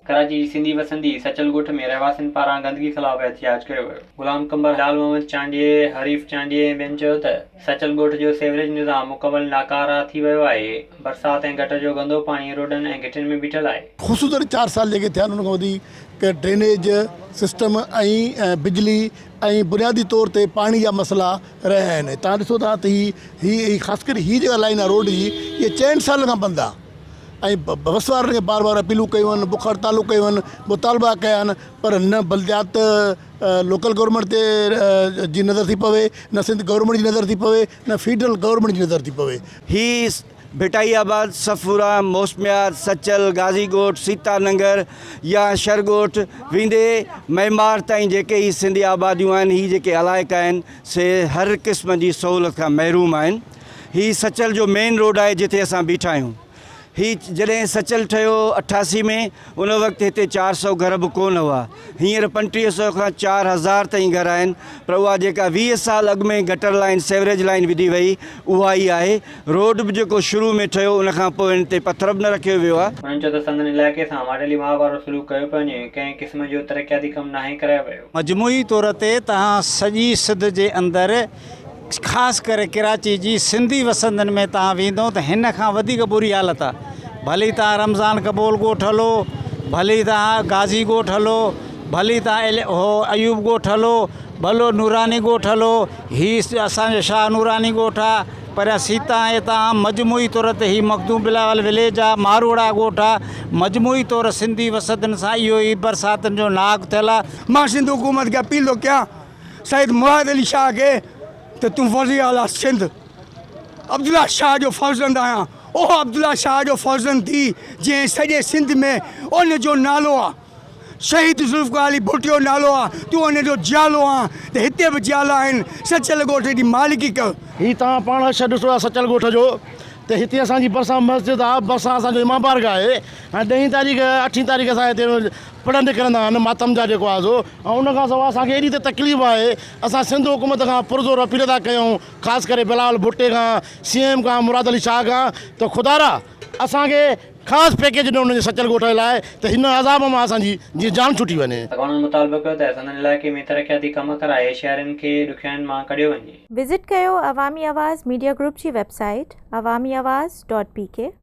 ڪراچي جي سنڌي وسندي سچل ڳوٺ ۾ رهواسين پاران گندگي خلاف احتجاج ڪيو ويو. غلام قمبر، لال محمد چانڊيي، حريف چانڊيي ۽ ٻين چيو ته سچل ڳوٺ جو سيوريج نظام مڪمل ناڪاره ٿي ويو آهي، برسات ۽ گٽر جو گندو پاڻي روڊن ۽ گهٽين ۾ بيٺل آهي. خصوصن چار سال جيڪي ٿيا آهن ان کان وڌيڪ ڊرينيج سسٽم ۽ بجلي ۽ بنيادي طور تي پاڻي جا مسئلا رهيا آهن ۽ تهان ڏسو ٿا ته هي هي خاص ڪري هي جيڪا لائين آهي روڊ جي اها چئن سالن کان بند آهي ۽ بس وارن کي بار بار اپيلون ڪيون آهن بک هڙتالون ڪيون آهن مطالبا ڪيا آهن پر نه بلديات لوڪل گورمينٽ تي جي نظر ٿي پوي نه سنڌ گورمينٽ جي نظر ٿي پوي نه فيڊرل گورمينٽ جي نظر ٿي پوي هي ڀٽائي آباد، صفورا، موسميار، سچل، غازي ڳوٺ، سيتا ننگر يا شھر ڳوٺ ويندي معمار تائين جيڪي ھي سنڌي آباديون آھن ھي جيڪي علائقا آھن سي ھر قسم جي سھولت کان محروم آھن ھي سچل جو مين روڊ آھي جتي اسان بيٺا آھيون ھي جڏھن سچل ٺھيو اٺاسي ۾ ان وقت ھتي چار سئو گھر به ڪون ھئا هينئر پنٽيهه سئو کان چار هزار تائين گهر آهن پر اها جيڪا ويهه سال اڳ ۾ گٽر لائين سيوريج لائين وڌي وئي اها ئي آهي روڊ به جيڪو شروع ۾ ٺهيو ان کان پوء ان تي پٿر به نه رکيو ويو آهي. هنن چيو ته سندن علائقي سان ماڊلي ماء وارو سلوڪ ڪيو پيو وڃي ڪنهن قسم جو ترقياتي ڪم ناهي ڪرايو ويو. مجموعي طور تي تهان سڄي سڌ جي اندر خاص ڪري ڪراچي جي سنڌي وسندين ۾ توهان ويندو ته هن کان وڌيڪ بري حالت آ ڀلي توهان رمضان قبول ڳوٺ هلو ڀلي توهان غازي ڳوٺ هلو ڀلي توهان هو ايوب ڳوٺ هلو ڀلو نوراني ڳوٺ هلو هي اسان جو شاهه نوراني ڳوٺ آ پريان سيتا ۽ هتان عام مجموعي طور تي هي مخدوم بلاول وليج آ ماروئڙا ڳوٺ آ مجموعي طور سنڌي وسندين سان اهو ئي برساتن جو ناهڪ ٿيل آ مان سنڌ حڪومت کي اپيل ٿو ڪيان سيد مراد علي شاهه کي ته تون وزير اعليٰ سنڌ عبدالله شاهه جو فرزند آهيان، اهو عبدالله شاهه جو فرزند ٿي جنهن سڄي سنڌ ۾ ان جو نالو آ، شهيد ذوالفقار علي ڀٽو نالو آ، تون ان جو جيالو آن ته هتي به جيالا آهن، سچل ڳوٺ جي مالڪي ڪر. هي توهان پاڻ حشر ڏسو ٿا سچل ڳوٺ جو ته هتي اسان جي ڀرسان مسجد آ، ڀرسان اسان جو امام بارگاهه آهي ۽ ڏهين تاريخ اٺين تاريخ اسان هتي پڙهن نڪرندا آهن ماتم جا جيڪو آزو ۽ ان کان سواء اسان کي ايڏي ته تڪليف آهي اسان سنڌ حڪومت کان پرزور اپيل ٿا ڪيون خاص ڪري بلاول ڀٽي کان سي ايم کان مراد علي شاهه کان ته خدارا اسان کي خاص پيڪيج ڏيو ان جي سچل ڳوٺ جي لاء ته هن عذاب مان اسان جي جيئن جان ڇٽي وڃي. اڳواڻن مطالبو ڪيو ته سندن علائقي ۾ ترقياتي ڪم ڪرائي شهرين کي ڏکيائين مان ڪڍيو وڃي. وزٽ ڪيو عوامي آواز ميڊيا گروپ جي website Awami Awaz dot P ڪي.